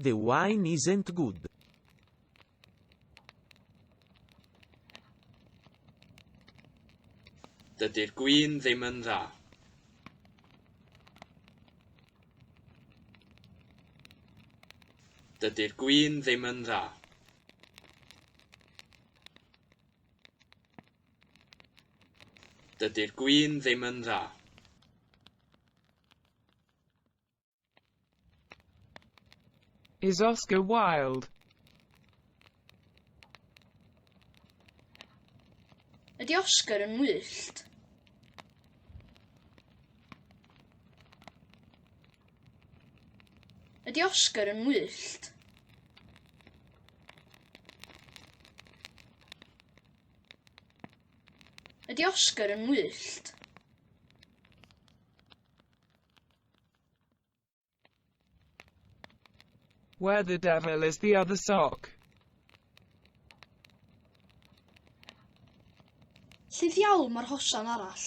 The wine isn't good. Dydy'r gwin ddim yn dda. Dydy'r gwin ddim yn dda. Dydy'r gwin ddim yn dda. Is Oscar Wilde. Ydy Oscar yn wyllt? Ydy Oscar yn wyllt? Ydy Oscar yn wyllt? Where the devil is the other sock? Lle ddiawl mae'r hosan arall?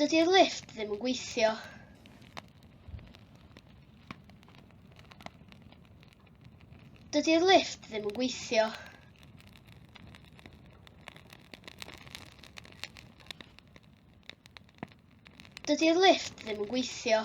Dydy'r lift ddim yn gweithio. Dydy'r lift ddim yn gweithio. Dydy'r lift ddim yn gweithio.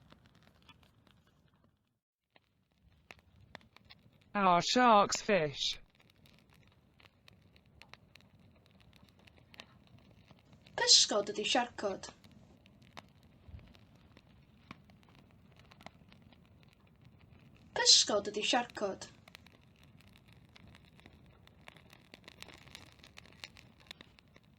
Are sharks fish? Pysgod ydy siarcod. Pysgod ydy siarcod.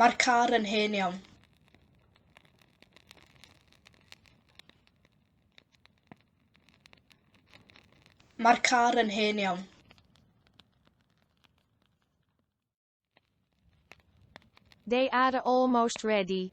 Mae'r car yn hen iawn. Mae'r car yn hen iawn. They are almost ready.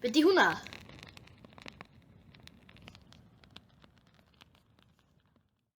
Be di hwnna?